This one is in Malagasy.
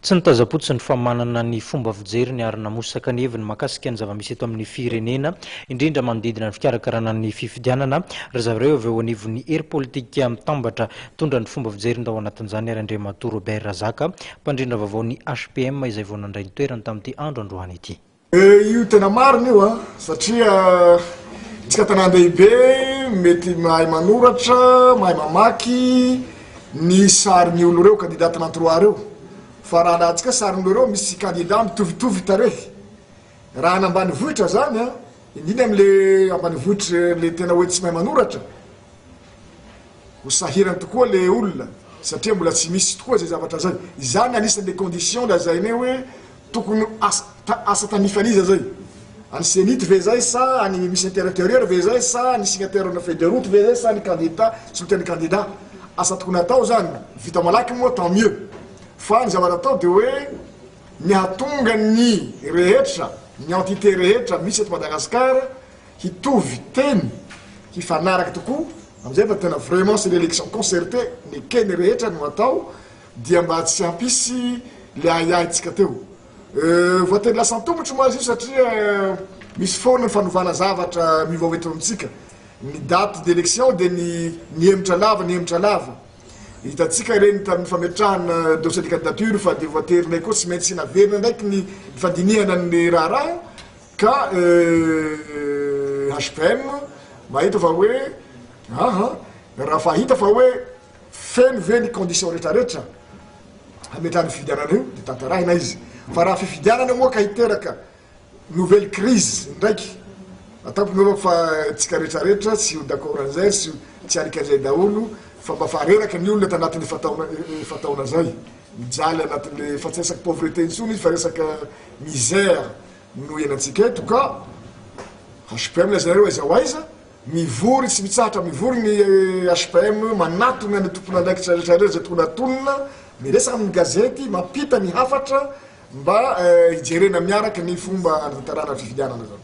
Tsy nitazam-potsiny fa manana ny fomba fijeriny ary namosaka ny heviny mahakasika ny zava-misy eto amin'ny firenena, indrindra manodidina ny fikarakarana ny fifidianana, ry zareo avy eo anivon'ny hery politika mitambatra mitondra ny fomba fijeriny tao anatin'izany ary Andriamatoa Robert Razaka, mpandrindra vaovao ny HPM izay vao nandray ny toerany tamin'ity andro androany ity. Eh io tena marina io a, satria tsika tanàn-dehibe mety mahay manoratra, mahay mamaky ny sarin'ny olo reo kandida tena trois reo, fa raha alantsika sarin'ny olo reo misy kandida mitovitovy tarehy, raha any ambanivohitra zany a, indrindra am le ambanivohitra le tena hoe tsy mahay manoratra, ho sahirana tokoa le olona satria mbola tsy misy tokoa zay zavatra zay, izany anisan'ny le condition lazainay hoe. Tokony asa asa tanifan'iza zay? An'i Zenith ve zay sa an'i Miss Interieur ve zay sa ny signataire-na feuille de route ve zay sa ny kandida sy loka ny kandida? Asa tokony atao zany, ny vita malaky moa tant mieux. Fa ny zavatra atao de hoe ny hahatonga ny rehetra, ny entité rehetra misy eto Madagascar hitovy teny, hifanaraka tokoa, amizay fa tena vraiment c'est l'élection concertée, ny ekeny rehetra no atao, Dia mba tsy hampisy le ahiahy tsika teo voatery lasa antomotra moa azy io satria misy foana ny fanovana zavatra miovaova eto amintsika ny date d'election dia ny nihemotra lava nihemotra lava hitantsika ireny tamin'ny fametrahana dossier de candidature fa dia voaterinay koa tsy maintsy naverina ndraiky ny fandinihana ny raharaha ka HPM mahita fa hoe aha raha fahita fa hoe Feno ve ny conditions rehetra rehetra hametrahana io fifidianana io dia tantarahina izy fa raha fifidianana moa ka hiteraka nouvelle crise indraiky ataoko angamba fa tsika rehetra rehetra tsy ho d'accord an'izay sy tsy alika an'izay daholo fa mba fa reraka ny olona tanatin'ny efa-taona efa-taona izay mijaly anatin'le fa tsy resaka pauvreté intsony izy fa resaka misère no ianantsika eto ka HPM lay zareo aiza ho aiza Mivory tsy mitsahatra mivory ny HPM manatona ny tompon'andraikitra rehetra rehetra izay tokony hatonina, miresaka amin'ny gazety, mampita ny hafatra mba hijerena miaraka ny fomba hanatanterahana ny fifidianana izany.